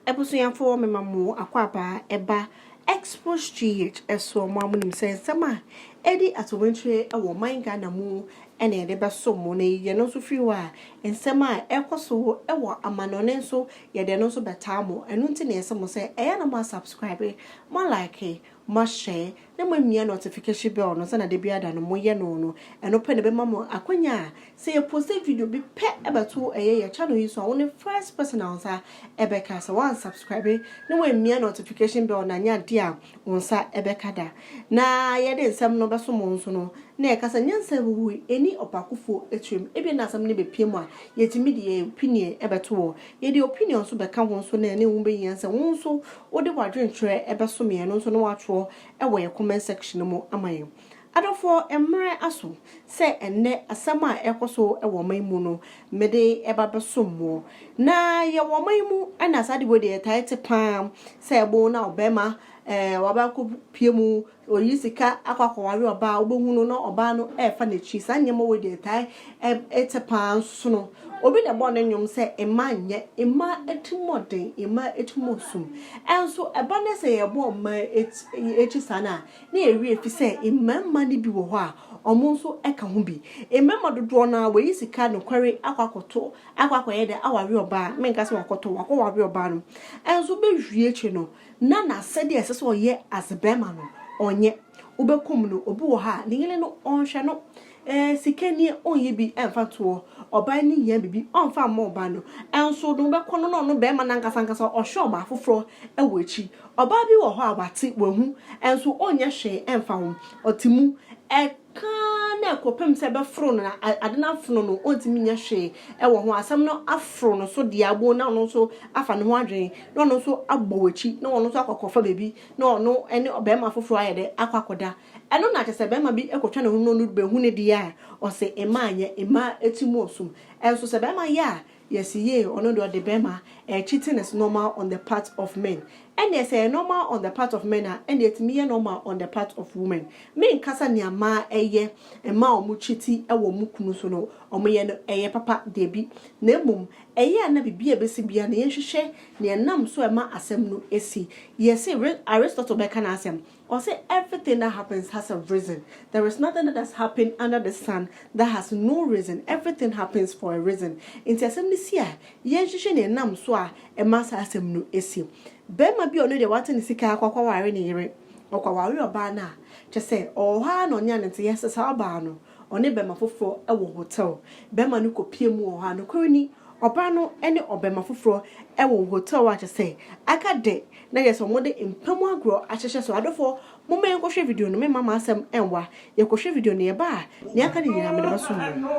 Abusuafoɔ me ma mo akwaabaa ɛba Xpostgh ɛsoɔ mo a mo nim sɛ nsɛm a ɛdi atowenkyire ɛwɔ ɔman Ghana mu ɛna yɛde bɛso mo na yɛyi ɛno nso firi hɔ a nsɛm a ɛkɔ so ɛwɔ amanɔne nso yɛde ɛno nso bɛtaa mo ɛno nti na yɛse mo sɛ ɛyɛ a na mo a subscribe mo a like mo a share na moamia nɔtifikahyin bɛl no sɛnea da biara da no moyɛ no no, ɛno pɛ na ɛbɛma mo akwanya a sɛ yɛposte video bi pɛ bɛto ɛyɛ yɛn channel yi so a, wo ne first person a wo nsa bɛka. Sɛ woansubscribe na woammia nɔtifikahyin bɛl no a, ɛnyɛ adeɛ a wo nsa bɛka da. Na yɛde nsɛm no bɛso mo nso no, na yɛka sɛ, Nyansa ahuhu nni ɔpaakofoɔ tirim. Ebia na asɛm no bɛpia mu a, yɛtumi de yɛn opinion bɛto hɔ. Yɛde opinion nso bɛka ho nso na yɛne wo bɛyi nyansa. Wo nso wode w'adwenkyerɛ bɛsom yɛn no nso na wɔatwerɛ wɔ yɛn comment section no mu ama yɛn. Adɔfoɔ, mmerɛ aso sɛ ɛnnɛ asɛm a ɛrekɔ so wɔ ɔman yi mu no, mede ba bɛsom moɔ. Na yɛwɔ ɔman yi mu na saa ade wei deɛ yɛtae te pa ara sɛ ɛbo na ɔbarima ɛɛ waba kɔpue mu Ɔreyi sika akɔ akɔware ɔbaa a, wobɛhu no na ɔbaa no refa n'akyi. Saa nneɛma wei deɛ ɛtae te paa nsono. Obi na ɛbɔɔ ne nnwom sɛ mmaa nyɛ mmaa atirimuɔden, mmaa atirimuɔsum. Nso ɛba ne sɛ yɛbɔ mmaa akyi saa no a, na yɛawie ɛfiri sɛ mmarima no bi wɔ hɔ a, wɔn nso ka ho bi. Mmarima dodoɔ no ara wɔayi sika nokware akɔ akɔto, akɔ akɔyɛ dɛ aware ɔbaa, menka sɛ wakɔtɔ, wakɔware ɔbaa no. Nso bɛwie akyire no, na n'asɛdeɛ a ɛsɛ sɛ ɔyɛ as a barima no ɔnyɛ, wobɛkum no, obi wɔ hɔ a ne yere no ɔnhwɛ no, eh, sika nie ɔnyɛ bi mfa ntoɔ, ɔbaa no hia biribi ɔmfa mma ɔbaa no, nso no wobɛkɔ no na ɔno barima no ankasa ankasa ɔhwɛ ɔbaa foforɔ wɔ akyi. Ɔbaa bi wɔ hɔ a wate, wahu, nso ɔnyɛ hwee mfa ho, ɔte mu, eh, ka ara na ɛkɔpem sɛ ɛbɛforo no na ade no afono no, ɔntumi nyɛ hwee wɔ ho, asɛm no aforo no so deaa bon na ɔno nso afa ne ho adwene na ɔno nso abɔ w'akyi na ɔno nso akɔ akɔfa baabi na ɔno ne ɔbarima foforɔ ayɛ dɛ akɔ akɔda. Ɛno na kyerɛ sɛ barima bi kɔtwa ne ho na ɔno bɛhu ne deɛ a, ɔse mmaa nyɛ, mmaa ti mu ɔsom. Nso sɛ barima yɛ a, Yes yee ɔno deɛ ɔde bɛɛma ɛyɛ cheating is normal on the part of men ɛneɛ sɛ ɛyɛ normal on the part of men a ɛneɛ ɛtumi yɛ normal on the part of women me nkasa nea mmaa ɛyɛ mmaa a ɔmo cheati ɛwɔ ɔmo kunu so no ɔmo yɛ no ɛyɛ papa dabi na mmom ɛyɛ a na biribi a ɛbɛsi biara no yɛnhwehwɛ nea ɛnam so ɛma asɛm no ɛsi yɛse Aristotle bɛka n'asɛm Ɔse everything that happens has a reason, there is nothing that has happened under the sun that has no reason, everything happens for a reason. Nti asɛm no si a, yɛnhwehwɛ nea ɛnam so a ɛma saa asɛm no si. Barima bi a ɔno deɛ wate ne sika akɔ akɔware ne yere, ɔkɔware ɔbaa no a, kyerɛ sɛ ɔwɔ hɔ ara na ɔne anenteeɛ sesa ɔbaa no. ɔne bɛma foforɔ wɔ hotɛl. Bɛma no kɔpie mu wɔ hɔ a, nokorɛ ni, ɔbaa no ne ɔbɛma foforɔ wɔ hotɛl a kyerɛ sɛ aka dɛ na kyerɛ sɛ wɔde mpa mu agorɔ ahyehyɛ so. Adɔfoɔ, momma yɛnkɔhwɛ video no, meremma m'asɛm nnwa. Yɛkɔhwɛ video no, yɛba a, nea aka no nyinaa mede bɛsom mo.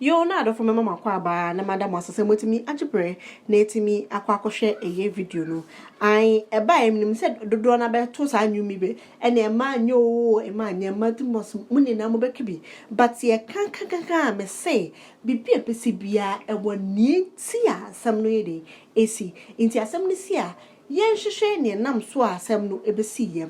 Yoo n'adɔfo mɛma mo akwaaba na mada mo ase sɛ moatumi agye berɛ na atumi akɔ akɔhwɛ ɛyɛ video no ae ɛbaeɛ menim sɛ dodoɔ no ara bɛto saa nnwom yi bi ɛne mma nyɛ oo mma nyɛ mma to must mo nyinaa mobɛka bi but deɛ kankankankan a mese biribi a ɛbɛsi biara ɛwɔ neɛ nti a asɛm no yɛ dɛn ɛsi nti asɛm no si a yɛnhwehwɛ neɛ nam so a asɛm no ɛbɛsiiɛ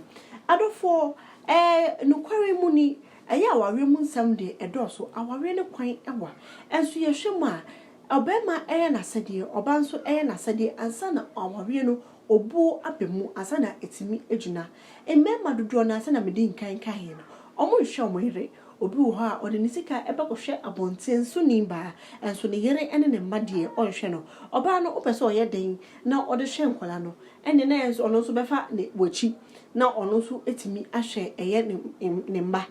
adɔfoɔ ɛɛ nokware mu ni Ɛyɛ awareɛ mu nsɛm deɛ ɛdɔɔso, awareɛ no kwan wa. Nso yɛhwɛ mu a, ɔbarima yɛ n'asɛdeɛ, ɔbaa nso yɛ n'asɛdeɛ ansa na awareɛ no obuo aba mu, ansa na atumi agyina. Mmarima dodoɔ no ara sɛdeɛ medi nkan kaeɛ no, wɔnhwɛ wɔn yere. Obi wɔ hɔ a, ɔde ne sika bɛkɔhwɛ abɔnten soni baa, nso ne yere ne ne mma deɛ, ɔnhwɛ no. Ɔbaa no, wopɛ sɛ ɔyɛ dɛn na ɔde hwɛ nkwadaa no? ɛnneɛ na ɛyɛ sɛ ɔno nso bɛfa ne w'akyi na ɔno nso atumi ahwɛ ɛyɛ ne ne mma.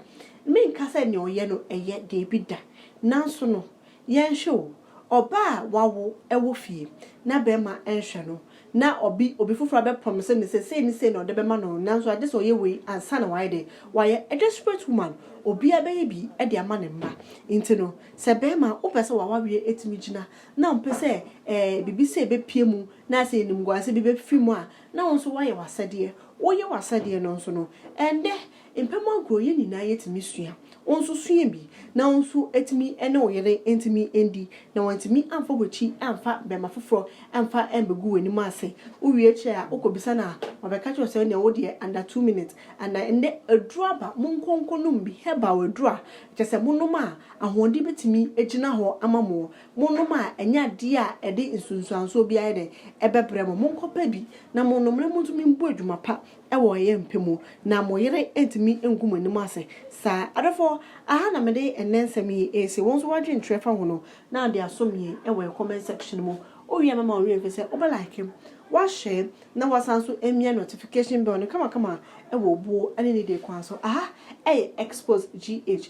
Menka sɛ nea ɔyɛ no ɛyɛ, daabi da, nanso no, yɛnhwɛ o, ɔbaa a wawo wɔ fie na barima nhwɛ no, na ɔbi obi foforɔ abɛpromise no sɛ sei ne sei na ɔde bɛma no, nanso agye sɛ ɔyɛ wei ansa na wayɛ dɛn, wayɛ a desperate woman, obiara bɛyɛ bi de ama ne mma. Nti no, sɛ barima a wopɛ sɛ wawareɛ atumi gyina na ɔmpɛ sɛ ɛɛ biribi sei bɛpue mu, Na sɛ animguase bi bɛfifi mu a, na wo nso woayɛ w'asɛdeɛ. Woyɛ w'asɛdeɛ no nso no, ɛnnɛ mpɛmɔ agorɔ yɛn nyinaa yɛtumi sua. Wo nso sua bi na wo nso atumi ne wo yere ntumi ndi na wantumi amfa w'akyi amfa bɛma foforɔ amfa ambɛgu w'anim ase. Wowie akyire a, wokɔbisa no a, wabɛka kyerɛ wo sɛ wodeɛ wo deɛ under two minutes and ɛnnɛ aduro aba, monkɔ nkɔnom bi, herbal aduro a kyerɛ sɛ monom a ahoɔden bɛtumi agyina hɔ ama moɔ. Monnom a ɛnyɛ adeɛ a ɛde nsunsuansoɔ biara yɛ dɛn? Ɛbɛbrɛ mo. Monkɔpɛ bi na monnom na montumi mbu adwuma pa wɔ ɛyɛ mpɛ mu, na mo yere ntumi ngu mo anim ase saa. Adɔfoɔ, aha na mede ɛnnɛ nsɛm yi resi. Wo nso woadwene kyerɛ fa ho no, na de asom yɛn wɔ yɛn comment section mu. Wowie a mɛma wo werɛ mfiri sɛ wobɛ like, woashare, na woasan nso amia notification bell no kamakama wɔ obuo ne nidie kwan so. Aha ɛyɛ Xposed GH.